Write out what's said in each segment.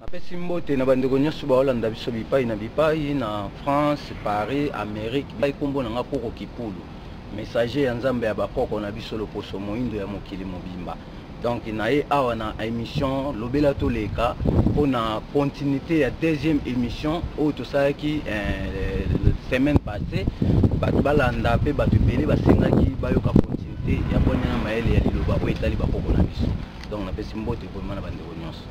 Napesi mbote na bandeko nyonso baolanda biso bipai na bipai na France, Paris, Amerique. Ngai nkombo na ngai Koko Kipulu, messager ya Nzambe ya bakoko na biso loposo moindo ya mokili mobimba. Donc naye awa na émission lobela toleka mpo na continuité ya deuxième émission oyo tosalaki eh, semaine passée bato balanda mpe bato ebele basengaki bayoka continuité ya bwania na mayele ya liloba oyo etali bakoko na biso donc napesi mbote ekomema na bandeko nyonso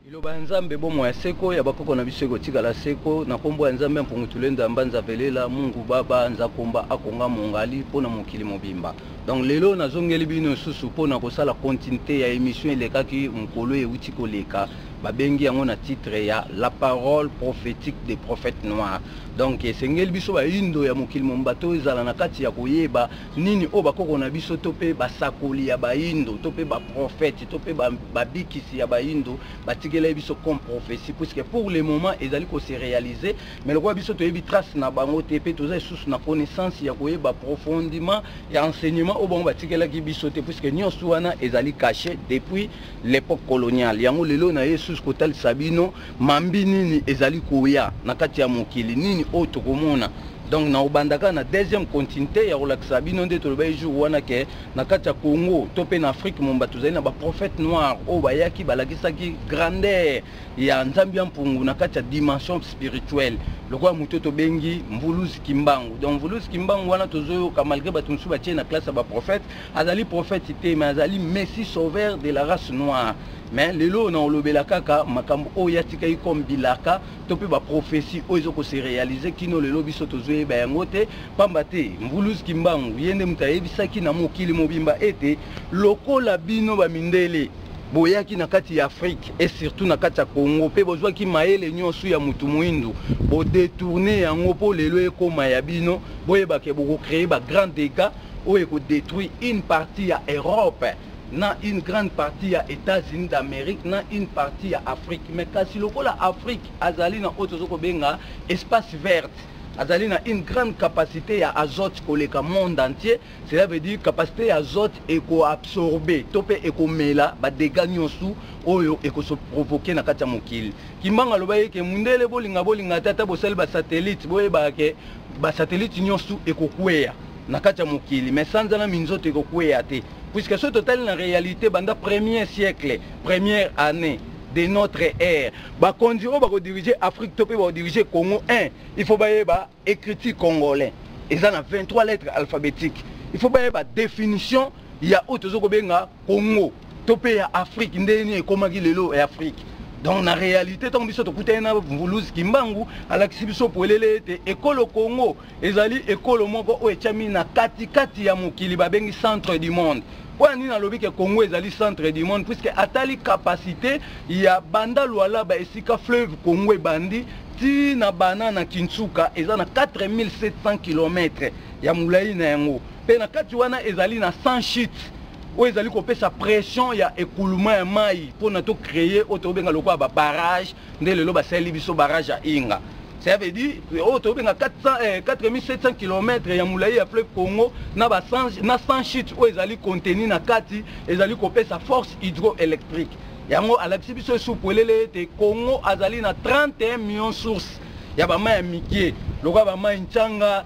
liloba ya nzambe bomoi ya seko ya bakoko na biso ekotikala seko na nkombo ya nzambe ya mpungutulendo ya mbanza velela mungu baba nzakomba akonga mongali mpo na mokili mobimba donc lelo nazongeli bino lisusu mpo na kosala continuité ya émission elekaki mokolo euti koleka babengi yango na titre ya la parole prophétique des prophètes noirs donc esengeli biso bayindo ya mokili momba to ezala na kati ya koyeba nini oyo bakoko na biso to mpe basakoli ya baindo to mpe baprofete to mpe babikisi ya baindo batikelai biso comme prophetie puisque pour le moment ezali kose réalise mais lokola biso toyebi trace na bango te mpe toza lisusu na connaissance ya koyeba profondiment ya enseignement oyo bango batikelaki biso te puisque nyonso wana ezali cache depuis l'époque coloniale yango lelo na ye lisusu kotalisa bino mambi nini ezali koya na kati ya mokili nini oyo tokomona donc na obandaka na deuxième continuité ya kolakisa bino nde tolobaki jour wana ke na kati ya congo to mpe na afrique momba tozali na baprophète noir oyo bayaki balakisaki grandeur ya nzambe ya mpungu na kati ya dimension spirituelle lokola moto tobengi mvuluzi kimbangu donc mvuluzi kimbangu wana tozoyoka malgré bato mosusu batie na classe ya baprophète azali prophète te mais azali messi sauveur de la race noire mais lelo oyo nakolobela kaka makambo oyo atikaki comme bilaka to mpe baprophesie oyo ezo kose réalise kino lelo biso tozoyeba yango te mpamba te mvulus kimbangu ye nde moto ayebisaki na mokili mobimba ete lokola bino bamindele boyaki na kati ya afrike e surtout na kati ya congo mpe bozwaki mayele nyonso ya motu moindo bodetourne yango mpo lelo ekóma ya bino boyebake bokokreye bagrand dégats oyo eko detruire une partie ya Europe na une grande partie ya Etats-Unis d'Amerique na une partie ya Afrique mais kasi lokola Afrique azali na oyo tozo kobenga espace verte azali na une grande capacité ya azote koleka monde entier cela veut dire capacité ya azote ekoabsorbe to mpe ekomela badega nyonso oyo ekoso provoke na kati ya mokili kimbanga aloba ye ke mundele bolinga bolinga te ata bosali basatellite boyebaka ke basatelite nyonso ekokweya na kati ya mokili mais sanza na minzoto ekokweya te puisque soki totali na réalité banda premier siècle première année de notre ère bakonzi oyo bakodirige afrique to mpe bakodirige congo 1 il faut bayeba écriture congolais eza na 23 lettres alphabétique il faut bayeba définition ya oyo toza kobenga congo to mpe ya afrique ndenge nini ekomaki lelo ya afrique donc na réalité ntango biso tokutani na mvuluzi kimbangu alakisi biso polele ete ekolo congo ezali ekolo moko oyo etyami na katikati ya mokili babengi centre du monde mpo ya nini alobi ke congo ezali centre du monde puiske atali kapasité ya banda lualaba esika fleuve congo ebandi ti na bana na kinsuka eza na 4700 km ya molai na yango mpe na kati wana ezali na sans chute oyo ezali kopesa pression ya ekuluma ya mai mpona tocreye oyo tobenga lokola babarrage nde lelo basaleli biso barrage ya inga ça veut dire oyo tobenga 4700 km ya molai ya fleuve congo na 100 chute oyo ezali contenu na kati ezali kopesa force hydroélectrique yango alakisi biso esu polele ete congo azali na 31 million source ya bamai ya mike lokola bamai ncanga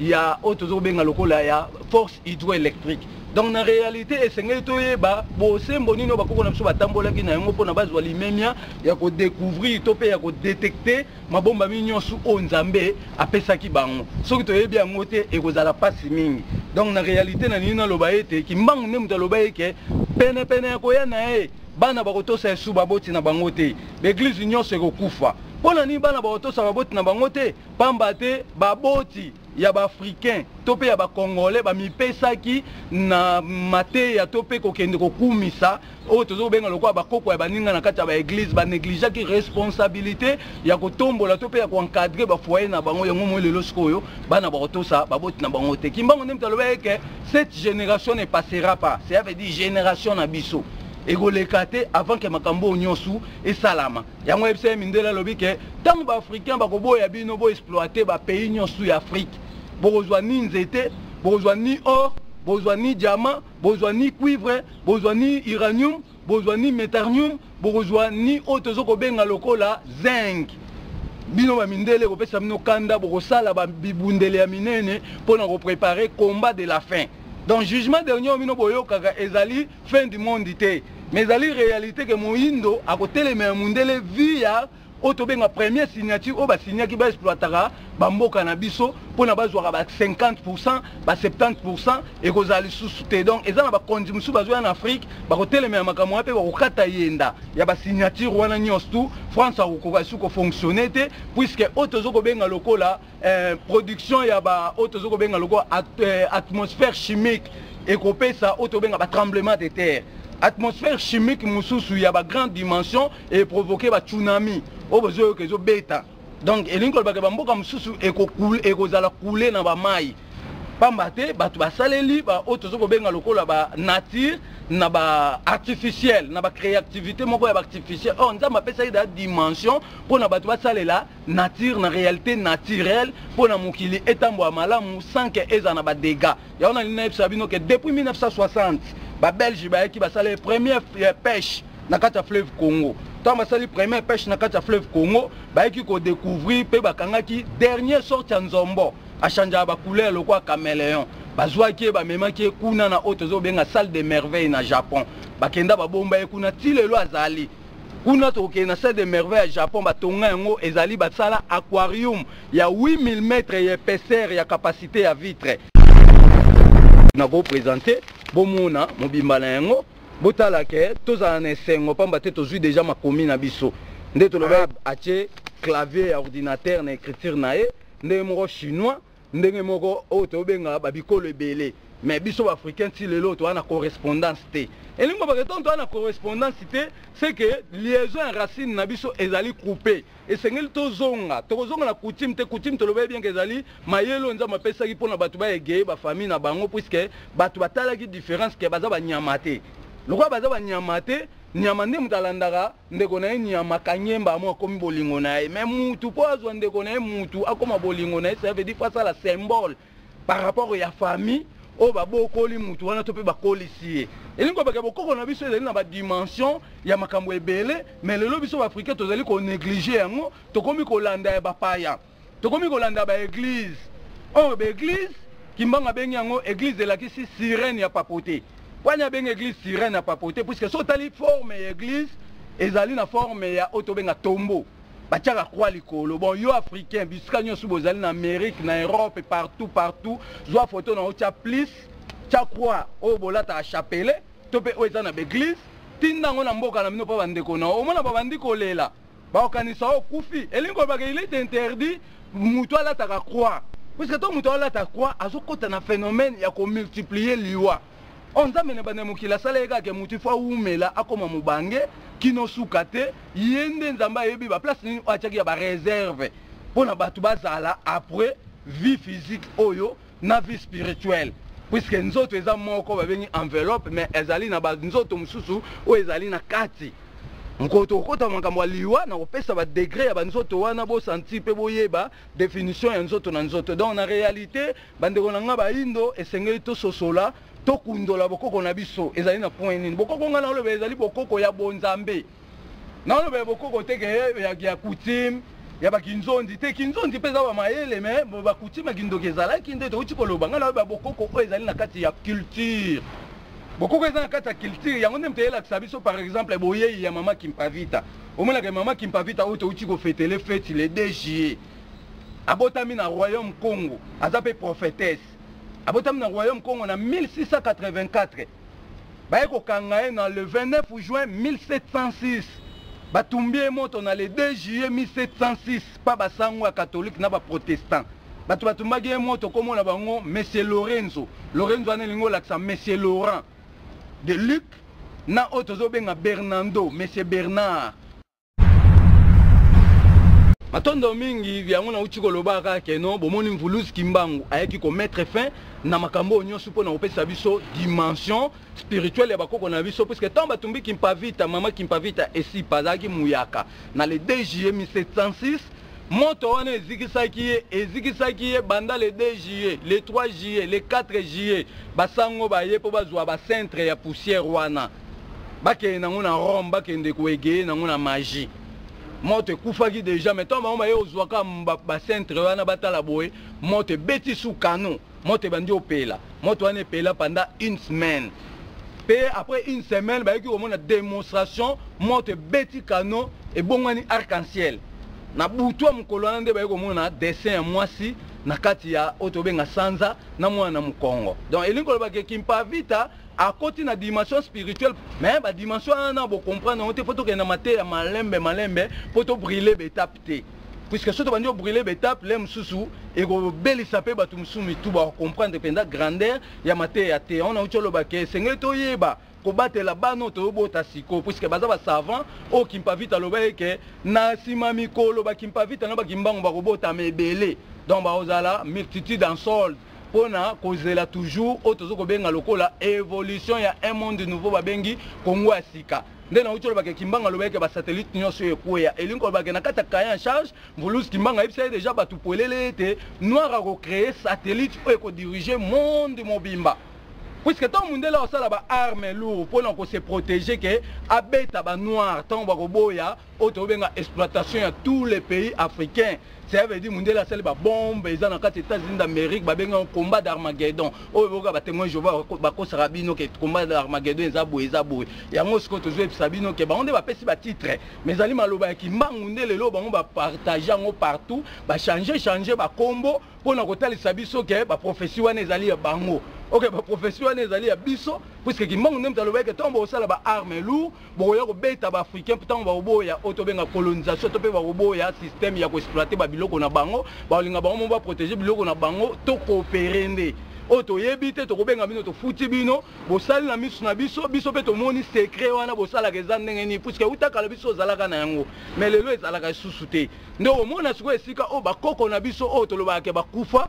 ya oyo tozo kobenga lokola ya force hydroélectrique donc na réalité esengeli toyeba bosembo nini oyo bakoko na biso batambolaki na yango mpona bazwa limemia ya kodecouvrir to mpe ya kodetecte mabombami nyonso oyo nzambe apesaki bango soki toyebi yango te ekozala mpasi mingi donc na réalité na nini naloba ete kimbangu nde moto aloba eke penepene ya koya na ye bana bakotosa yesu baboti na bango te baeglize nyonso ekokufa mpo na nini bana bakotosa baboti na bango te pamba te baboti ya baafricain to mpe ya bacongolais bamipesaki na mateya to mpe kokende kokumisa oyo tozo kobenga lokola bakoko ya baninga na kati ya baeglize banegligeaki responsabilité ya kotombola to mpe ya koencadre bafoye na bango yango moi lelo sikoyo bana bakotosa baboti na bango te kimbango nde moto alobaki eke cette génération ne passera pas cela veut dire génération na biso ekoleka te avant ke makambo oyo nyonso esalama yango yebisa ye mindele alobi ke ntango baafricain bakoboya bino boexploite bapays nyonso ya afrique bokozwa ni nzete bokozwa ni or bozwa ni diamant bozwa ni cuivre bozwa ni uranium bozwa ni metarnium bokozwa ni oyo tozo kobenga lokola zinc bino bamindele ekopesa bino kanda bokosala bibundeli ya minene mpo na koprepare combat de la fin donc jugement dernier oyo bino boyokaka ezali fin du monde te mais ezali réalité ke moyindo akotelemela mundele vie ya oyo tobenga premier signature oyo basignaki baexploitaka bamboka na biso mpona bazwaka ba 50 pourcent ba 70 pourcent ekozala lisusu te donc eza na bakonzi mosusu bazoya na afrique bakotelemela makambo wana mpe bakokata yenda ya basignature wana nyonso tu france akokoka lisusu kofonctionne te puisque oyo tozo kobenga lokola eh, production ya ba oyo tozo kobenga lokola at, eh, atmosphère chimique ekopesa oyo tobenga ba tremblement de terre atmosphère chimique mosusu ya ba grande dimension eprovoke ba tsunami oyo bozoyoka ezobeta donc elingi kolobaka bamboka mosusu ekozala koule na bamai pamba te bato basaleli baoyo tozo kobenga lokola ba nature na ba artificiel na ba créativité moko ya ba artificiel or nzambe apesaki da dimension mpo na bato basalela nature na réalité naturelle mpo na mokili etambola malamu sans ke ezala na badega yango na lina yebisa bino ke depuis 1960 babelge bayaki basala première eh, pêche na kati ya fleuve congo ntango basali première pêche na kati ya fleuve congo bayaki kodécouvrir mpe bakangaki dernier sorte ya nzombo achangeaka bacouleur lokola caméléon bazwaki ye bamemaki ye kuna na oyo tozobenga salle de merveille na japon bakenda babomba ye kuna ti lelo azali kuna tokokende na salle de merveille ya japon batonga yango ezali basala aquarium ya 8000 mètre ya épaisseur ya capacité ya vitre nakopresente bomona mobimba na yango botala ke tozala na esengo mpamba te tozwi deja makomi na biso nde toloba ah. atie clavier ya ordinateur na écriture na ye ndenge moko chinois ndenge moko oyo tobenga ba bikolo ebele mais biso baafricain ti lelo toza na correspondance te elingi kobaka ntango toza na correspondance te ce que liaison ya racine na biso ezali coupe esengeli tozonga tokozonga na coutume te coutume tolobeli bienke ezali mayele oyo nzambe apesaki mpo na bato baegeye bafamille na bango puiske bato batalaki différence ke baza banyama te lokola baza banyama te nyama nde moto alandaka ndeko na ye nyama kanyemba amo akomi bolingo na ye mais mutu mpo azwa ndeko na ye mutu akoma bolingo na ye ça veut dire mpo asala symbole par rapport ya famille oyo babokoli mutu wana to mpe bakolisi ye elingi kobaka bokoko na biso ezali na badimension ya makambo ebele mais lelo biso baafricain tozali konéglige yango tokomi kolanda ya bapaya tokomi kolanda ba eglise oyo ba eglise kimbanga abengi yango eglise elakisi sirene ya papote wani abengi eglise sirene ya papote puiske so otali forme ya eglise ezali na forme ya oyo tobenga tombo batiaka kwa likolo bon yo africain bisika nyonso bozali na amérique na europe partout partout zwa foto na otya plis tya kwa oyo bolataka chapelet to mpe oyo eza na baeglise tinda yango na mboka na bino mpo bandeko na omona babandi kolela bakokanisa yo okufi elingi kolobaka il est interdit moto alataka croix puiske to moto alata croix azokota na phénomène ya komultiplier liwa o oh, nzambe na banda mokili asala ye kaka moto ifo awumela akoma mobange kino suka te ye nde nzambe ayebi baplace nini oyo atyaki ya bareserve mpo na bato bazala après vie physique oyo na vie spirituelle puisque nzoto eza moko babengi enveloppe mais ezali na banzoto mosusu oyo ezali na kati mokolo tokokota makambo ya liwa na kopesa badegre ya banzoto wana bosanti mpe boyeba définition ya nzoto na nzoto donc na réalité bandeko na ngai baindo esengeli tososola tokundola bokoko na biso ezali na point nini bokoko ngai na oloba ezali bokoko ya bonzambe naoloba ya bokoko te ke ya, ya coutume ya bakinzonzi te kinzonzi mpe eza bamayele me bakoutume ya kindoki ezalaki nde touti koloba ngai naoyo babokoko oyo ezali na kati ya culture bokoko eza na kati ya culture yango nde moto eyelakisa biso par exemple boyei ya mama kimpavita omonaka mama kimpavita oyo touti kofetele feti le 2 juillet abotami na royaume congo aza mpe prophétesse abotami na royaume congo na 1684 baye kokanga ye na le 29 juin 1706 batumbi ye moto na le 2 juillet 1706 pa basango ya katholike na baprotestant bato batumbaki ye moto komona bango monsieur lorenzo lorenzo wana elingi olakisa monsieur laurent de luc na oyo tozobenga bernando monsieur bernard matondo mingi yango nauti kolobaka kaka keno bomoni mvuluzi kimbangu ayaki komettre fin na makambo oyo nyonso mpo na kopesa biso dimension spirituelle ya bakoko na biso puiske ntango batumbi kimpavita mama kimpavita esipa azalaki muyaka na le 2 juillet 1706 moto wana ezikisaki ye ezikisaki ye banda le 2 juillet le 3 juillet le 4 juillet basango baye mpo bazwa bacentre ya poussière wana bakende nango na rome bakende koegeye nango na magie moto ekufaki déjà mais ntango bango baye ozwaka bacentre wana batala boye moto ebeti sous canon moto ebandi opela moto wana epela pendant une semaine mpe après une semaine bayoki komona démonstration moto ebeti canon ebongwani arc en ciel na butu ya mokolo wana nde baye komona dessin ya mwasi na kati ya oyo tobenga sanza na mwana na mokongo donc elingi koloba ke kimpavita akoti na dimension spirituelle mais ba dimension wana bo comprendre yango te mpo tokende na mateya malembe malembe mpo to brille betape te puisque soki tobandi obrille betape le mosusu ekobelisa mpe bato mosusu mitu bakomprendre mpenza grandeur ya mateya ya te ona uti oloba ke esengeli toyeba kobatela bana oyo toyobota sikoyo puiske baza basavant oyo kimpavita aloba eke na nsima mikolo bakimpavita na bakimbangu bakobotama ebele donc bakozala multitude en solde mpo na kozela toujours oyo tozo kobenga lokola evolution ya un monde nouveau babengi kongo ya sika nde nauti olobaka kimbanga alobaki ke basatellite nyonso oyo ekweya elingi kolobaka na kati ya kaye en charge mvuluzi kimbanga ayebisa ye deja bato polele ete noir akocreye satellite oyo ekodirige monde mobimba puiske ntango mondele akosala baarme lourd mpo na kose protege ke abeta banoir ntango bakoboya oyo tobenga exploitation ya tous les pays africains ça veut dire mundele asali babombe eza na kati états-unis d'amérique babengi yango combat d'armagedon oyo boyoka batemoin jehova bakosaka bino ke combat d'armagedon eza boye eza boye yango sikoyo tozoyebisa bino ke bango nde bapesi batitre mais ezali maloba ya kimbangu nde lelo bango bapartage yango partout bachange change bakombo mpo na kotalisa biso ke baprofesi wana ezali ya bango ok baprofesi wana ezali ya biso puiske kimbangu nde moto alobaki ke ntongo bokosala baarme lourd bokoya kobeta baafricain ntango bakoboya oyo tobenga colonisation to mpe bakoboya systeme ya koexploite babiloko na bango bakolinga bango mo baprotege biloko na bango to koopere nde oyo toyebi te tokobenga bino tofuti bino bosali na miso na biso biso mpe tomoni sekre wana bosalaka eza ndenge nini puiske euta kala biso ozalaka na yango mai lelo ezalaka lisusu te nde omona sikoyo esika oyo bakoko na biso oyo tolobaka ke bakufa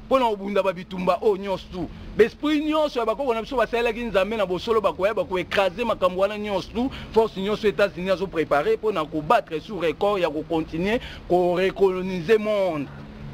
mpo na kobunda ba bitumba oyo nyonso tu baesprit nyonso ya bakoko na biso basalelaki nzambe na bosolo bakoya bakoekrase makambo wana nyonso tu force nyonso états-unis azo prépare mpo na kobattre sous record ya kocontinue korecolonise monde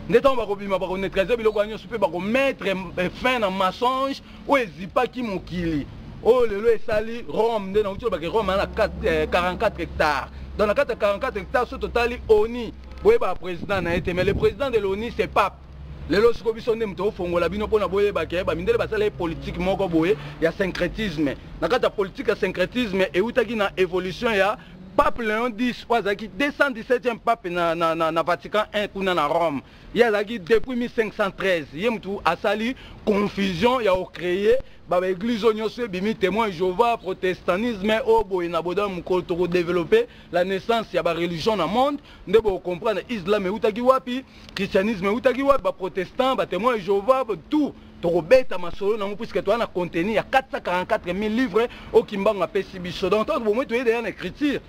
nde ntango bakobima bakoneutralize biloko wana nyonso mpe bakomettre eh, fin na mensonge oyo ezipaki mokili oyo lelo esali rome nde nauti olobake rome ana 44 hectare donc na kati ya 44 hectare so totali oni boyeba président na ye te mais le président de l'oni c'est pape lelo siko biso nde moto ofongola bino mpona boyeba ke bamindele basala ye politike moko boye ya syncretisme na kati ya politike ya syncretisme eutaki na évolution ya pape leon 10 oyo azalaki 217e pape na, na, na, na vatican 1 kuna na rome ye azalaki depuis 1513 ye motu asali confusion ya ocreye babaeglise oyo nyonso ebimi témoin jehova protestantisme oyo boye na boda mokolo tokodeveloppe la naissance ya bareligion na monde nde bokomprendre islam eutaki wapi christianisme eutaki wapi baprotestant batemoin jehova tout tokobeta masolo nango puiske toza na contenu ya 444 000 livre oyo kimbangu apesi biso donc ntango bomoi toye deya na écriture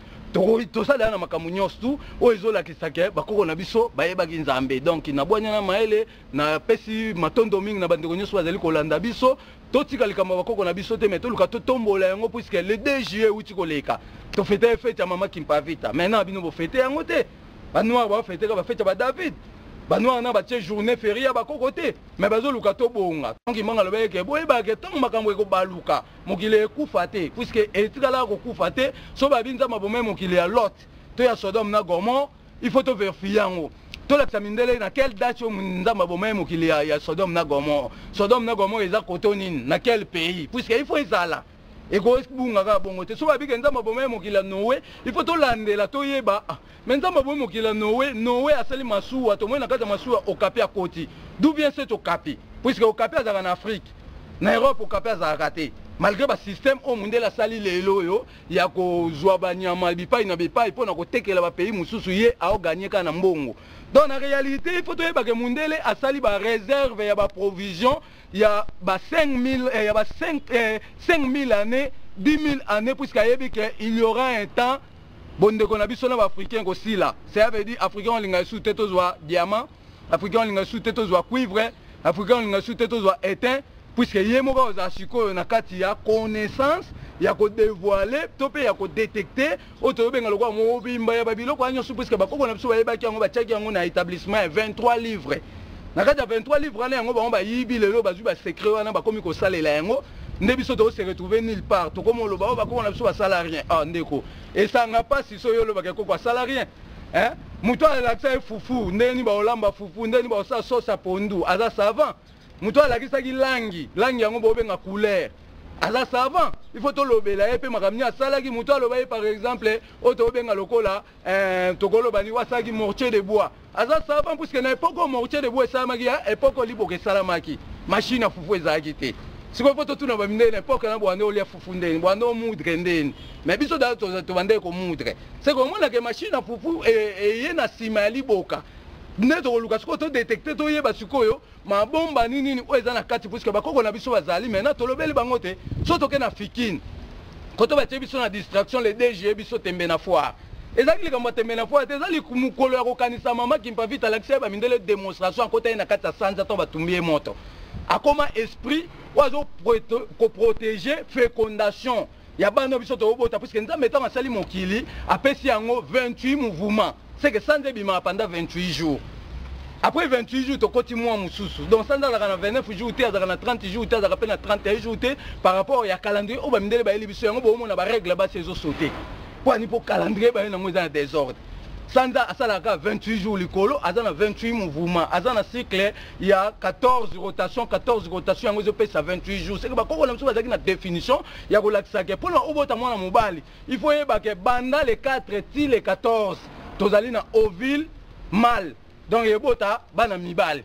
tosalela na makambo nyonso tu oyo ezolakisa ke bakoko na biso bayebaki nzambe donc na bwanya na mayele napesi matondo mingi na bandeko nyonso bazali kolanda biso totika likambo ya bakoko na biso te mai toluka totombola yango puiske le 2 juillet euti koleka tofete fete ya mama kimpavita maintenant bino bofete yango te ba noir ba fete ba fete ba David ba noir na ba tie journée férié ya ba koko te mais bazo luka to bonga donc imanga lobaki ke boye ba ke tango makambo eko baluka mokili ekufa te puisque etikala ko kufa te so ba binza mabomai mokili ya Lot to ya Sodome na Gomorrhe il faut to vérifier yango tolakisa mindele na quelle date oyo nzambe abomai mokili ya, ya sodome na gomore sodome na gomore eza koto nini na quel pays puisque il faut ezala ekobunga kaka bongo te soki abike nzambe aboma ye mokili ya noe ifo tolandela toyeba ah, me nzambe abomi mokili ya noe noe asali masuwa tomoni na kati ya masuwa okapi akoti du bien se tokapi puiske okapi azalaka na afrike na europe okapi azalaka te malgré basystème oyo mondele asali lelo oyo ya kozwa banyama bipai na bipai mpo na kotekela bapays mosusu ye aoganye kaka na mbongo donc na réalité ifo toyebake mondele asali bareserve ya baprovision ya ba 5000 eh, ya ba 5 eh, 5000 années 10000 années puisque ayebi que il y aura un temps bondeko na biso na baafricain kosila cela veut dire africain olinga lisusu te tozwa diamant africain olinga lisusu te tozwa cuivre africain olinga lisusu te tozwa étain puisque ye moko akozala sikoyo na kati ya connaissance ya kodevoile to mpe ya kodetecte oyo toyobenga lokola mobimba ya babiloko ya nyonso puiske bakoko na biso bayebaki yango batiaki yango na établissement ya 23 livre na kati ya 23 livre wana yango bango bayibi lelo bazwi basecret wana bakomi kosalela yango nde biso tose retrouve nulle part tokomi oloba oyo oh, bakoko na biso basala rien a ah, ndeko esanga mpasi so yo olobaka ekoko asala rien moto alakisa ye fufu ndenge nini baolamba fufu ndenge nini baosala sosa pondu aza savant moto alakisaki langi langi yango bobenga couleur aza savant il faut tolobela ye mpe makambo nini asalaki moto aloba ye par exemple oyo tobenga lokola eh, tokoloba ni wasalaki mortier de bois aza savant puiske na epoke oyo mortier de bois esalamaki ya epoke oliboka esalamaki mashine ya fufu ezalaki te sikoyo mpo totuna bamindele na epoke na bwande olia fufu ndeni bwande omudre ndeni me biso da tobandaki komudre seke omonake mashine ya fufu eye eh, eh, na nsima ya liboka nde tokoluka sikoyo todetecte toyeba sikoyo mabomba nini nini oyo eza na kati puisque bakoko na biso bazali maintenant tolobeli bango te so toke na fikine koto batie biso na distraction le dg biso tembe na foire ezalaki likambo ya tembe na foire te eza mokolo ya kokanisa mama kimpavita alakisa ye bamindele démonstration akota ye na kati ya sanza to batumbi ye moto akoma esprit oyo azo koprotege fécondation ya bana biso tokobota puiske nzambe ntango asali mokili apesi yango 28 mouvement seke sanza ebimaka panda 28 jours après 28 jours tokoti mwa mosusu donc sanza azalaka na 29 jours te azalaka na 30 jours te azalaka mpe na 31 jours te par rapport ya calendrier oyo bamindele bayeli biso yango boomona barègle basi ezosote mpo ani mpo calendrier baye nango eza na desordre sanza asalaka 28 jours likolo aza na 28 mouvement aza na cycle ya 14 rotation 14 rotation yango ezopesa 28 jours seke bakoko na biso bazalaki na définition ya kolakisa ke mpona obota mwana mobali il faut oyeba ke banda le 4 ti le 14 tozali na ovile mal donc ebota bana mibali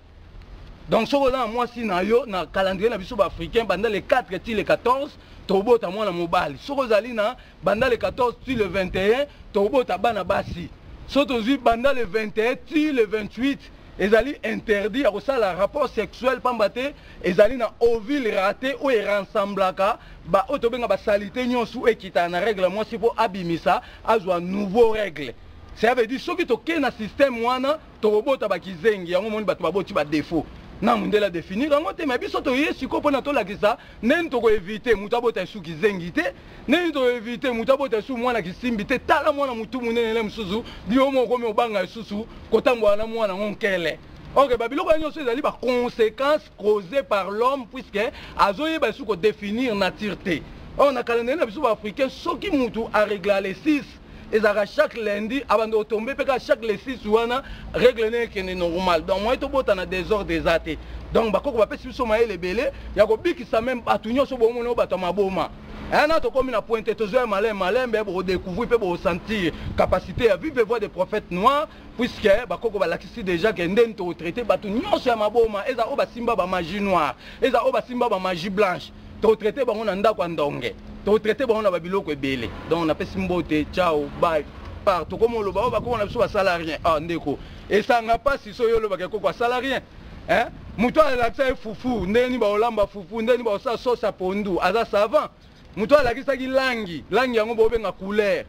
donc soki oza na mwasi na yo na calendrier na biso baafricain banda le 4 ti le 14 tobota mwana mobali soki ozali na banda le 14 ti le 21 tobota bana basi so tozwi banda le 21 ti le 28 ezali interdit ya kosala rapport sexuel mpamba te ezali na ovile rate oyo eransamblaka ba oyo tobenga basalite nyonso oyo ekitana na règle ya mwasi mpo abimisa azwa nouveau règle cela veut dire soki tokei na système wana tokobota bakizengi yango omoni bato baboti badefaut na mondele adefinir yango te me biso toye sikoyo mpona tolakisa ndeni tokoevite moto abota esu kizengi te ndeni tokoevite moto abota esu mwana kisimbi te tala mwana motu monene ne mosusu bio moko okomi obanga lisusu kotambola na mwana yango nkele ok babiloko ya nyonso ezali baconséquence causé par l'homme puisque azoyeba esu kodéfinir nature te or na calendrier na biso baafricain soki mutu aregla le 6 ezalaka chaque lundi abanda otombe mpe kaka chaque le 6 wana règle ne ekende normal donc moye tobota na désordre eza te donc bakoko bapesi biso mayele ebele ya kobikisa meme bato nyonso bomona oyo bato ya maboma ena tokomi na pointe tozoya malembe malembe bokodecouvrir mpe bokosentir capacité ya vive voix de prophète noir puisque bakoko balakisi déjà ke ndeni tokotraite bato nyonso ya maboma eza oyo basimba bamagie noire eza oyo basimba bamagie blanche tokotraite bango na ndako ya ndonge tokotraite bango na babiloko ebele donc napesi mbote ciao bye part tokoma oloba oyo bakoko na biso basala rien ah ndeko esanga mpasi so yo olobaka ekoko asala rien eh? moto alakisa ye fufu ndenge nini baolamba fufu ndenge nini baosala sosa pondu aza savant moto alakisaki langi langi yango bobenga couleur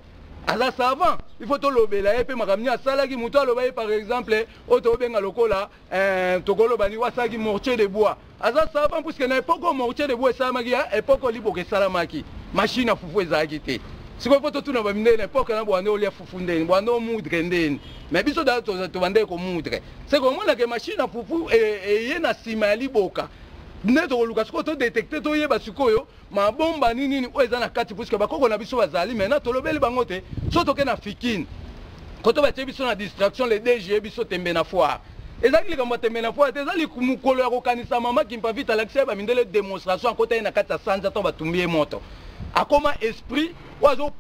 aza savant il faut tolobela ye mpe makambo nini asalaki moto aloba ye par exemple oyo tobenga lokola eh, tokoloba ni wasalaki mortier de bois aza savant puiske na epoke oyo mortier de bois esalamaki ya epoke oliboka esalamaki mashine ya fufu ezalaki te sikoyo mpo totuna bamindele na epoke na bwande olia fufu ndeni bwande omudre ndeni me biso da tobandaki komudre seke omonake mashine ya fufu eye eh, eh, na nsima ya liboka nde tokoluka sikoyo todetecte toyeba sikoyo mabomba nini nini oyo eza na kati puiske bakoko na biso bazali maintenant tolobeli bango te so toke na fikine koto batie biso na distraction le dge biso tembe na foire ezalaki likambo ya tembe na foire te eza mokolo ya kokanisa mama kimpavita alakisa ye bamindele demonstration akota ye na kati ya sanza ntango batumbi ye moto akoma esprit oyo azo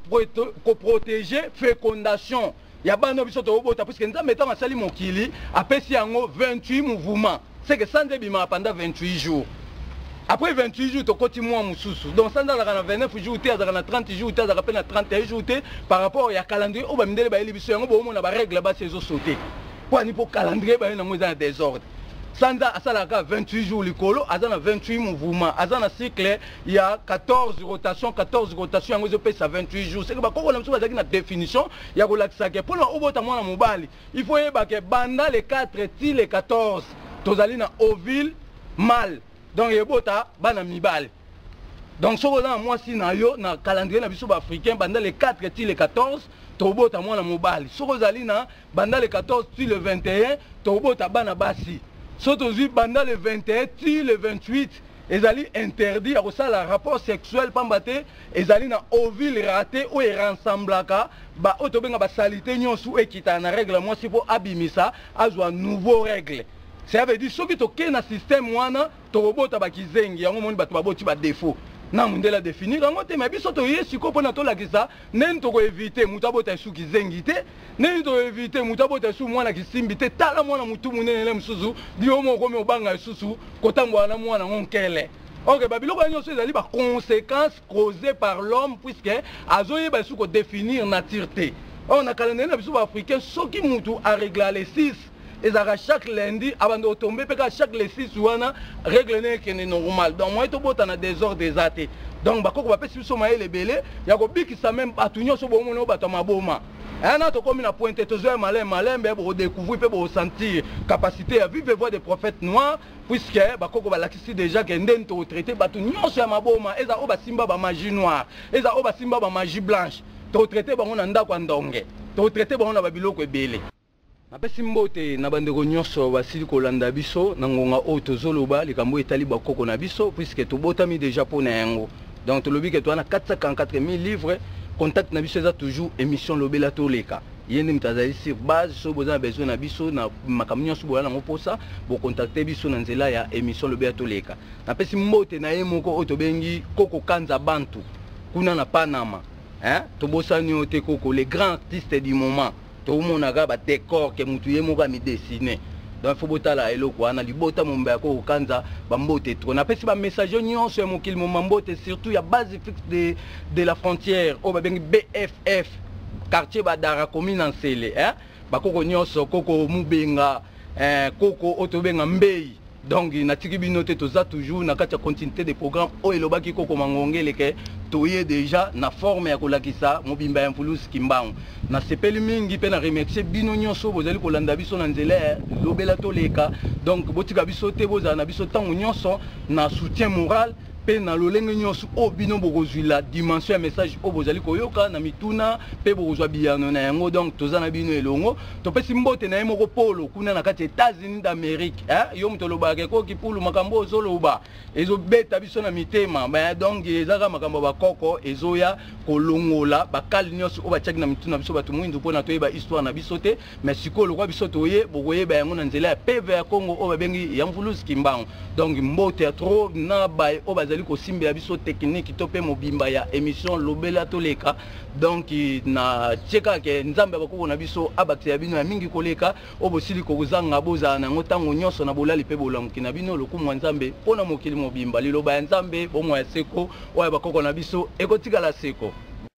koprotege fécondation ya bana biso tokobota puiske nzambe ntango asali mokili apesi yango 28 mouvement seke sanza ebimaka panda 28 jours après 28 jours tokoti mwa mosusu donc sanza azalaka na 29 jours te azalaka na 30 jours te azalaka mpe na 31 jours te par rapport ya calendrier oyo bamindele bayeli biso yango boomona barègle basi ezosote mpo ani mpo calendrier baye nango eza na desordre sanza asalaka 28 jours likolo aza na 28 mouvement aza na cycle ya 14 rotation 14 rotation yango ezopesa 28 jours seke bakoko na biso bazalaki na définition ya kolakisa ke mpona obota mwana mobali il faut oyeba ke banda le 4 ti le 14 tozali na ovile male donc ebota bana mibali donc soki oza na mwasi na yo na calendrier na biso baafricain banda le 4 ti le 14 tobota mwana mobali soki ozali na banda le 14 ti le 21 tobota bana basi so tozwi banda le 21 ti le 28 ezali interdit ya kosala rapport sexuel mpamba te ezali na ovile rate oyo erensemblaka baoyo tobenga basalite nyonso oyo ekitana na regle ya mwasi mpo abimisa azwa nouveau regle cela veut dire soki tokei na systeme wana tokobota bakizengi yango omoni bato baboti badefaut na mondele adefinir yango te me biso toye sikoyo mpona tolakisa ndeni tokoevite moto abota esu kizengi te ndeni tokoevite moto abota esu mwana kisimbi te tala mwana motu monene ne mosusu bio moko okomi obanga lisusu kotambola na mwana yango nkele ok babiloko ya nyonso ezali baconséquence causé par l'homme puisque azoyeba esu kodéfinir nature te or na calendrier na biso baafricain soki mutu aregla le 6 ezalaka chaque lundi abanda otombe mpe kaka chaque le 6 wana règle ne ekende normal donc moye tobota na désordre eza te donc bakoko bapesi biso mayele ebele ya kobikisa meme bato nyonso bomona oyo bato ya maboma ena eh, tokomi na pointe tozoya malin malembe bokodecouvrir mpe bokosentir capacité ya vive voix de prophète noir puisque bakoko balakisi déjà ke nde nto traité bato nyonso ya maboma eza oyo basimba bamagie noire eza oyo basimba bamagie blanche totraite bango na ndako ya ndonge totraite bango na babiloko ebele napesi mbote na bandeko nyonso basili kolanda biso na ngonga oyo tozoloba likambo oyo etali bakoko na biso puisque tobotami déjà mpo na yango donc tolobi ke toa na 444 000 livres contact na biso eza toujours émission lobela toleka ye nde moto azali sur base soki boza na besoin na biso na makambo nyonso boya nango mposa bokontakte biso na nzela ya émission lobi ya toleka napesi mbote na ye moko oyo tobengi koko kanza bantu kuna na panama hein? tobosani yo te koko le grand artiste du moment tomonaka badecor ke motu ye moko amidesine donc fo botala eloko wana libota momba ya koko kanza bambote tro napesi bamessage nyonso ya mokili momba mbote surtout ya base fixe de, de la frontière oyo babengi bff quartier badara commune na nsele eh? bakoko nyonso koko mubenga eh, koko oyo tobenga mbei donc natiki bino te toza toujours na kati ya continuité de programme oyo elobaki koko mangongele ke toye déjà na forme ya kolakisa mobimba ya mvulusi kimbangu nasepeli mingi mpe na remercie bino nyonso bozali kolanda biso na nzela ya lobela toleka donc botika biso te bozala na biso ntango nyonso na soutien moral mpe na lolenge nyonso oyo bino bokozwila dimension ya message oyo bozali koyoka na mituna mpe bokozwa biyano na yango donc toza na bino elongo topesi mbote na ye moko polo kuna na kati ya états-unis d'amérique eh? yo moto olobaka ekoki pulu makambo oyo ozoloba ezobeta biso na mitema ba donc ezaka makambo ya bakoko ezoya kolongola bakale nyonso oyo batiaki na mituna biso bato mwindu mpona toyeba histoire na biso te me sikoyo lokwa biso toye bokoyeba yango na nzela ya peve ya congo oyo babengi ya mvuluzi kimbangu donc mbote ya tro na baye oyo bazali kosimbela biso tekiniki to mpe mobimba ya émission lobela toleka donc na tie kaka ke nzambe ya bakoko na biso abakisa ya bino ya mingi koleka oyo bosili kozanga bozala na yango ntango nyonso na bolali mpe bolamuki na bino lokumu ya nzambe mpo na mokili mobimba liloba ya nzambe bomoi ya seko oyo ya bakoko na biso ekotikala seko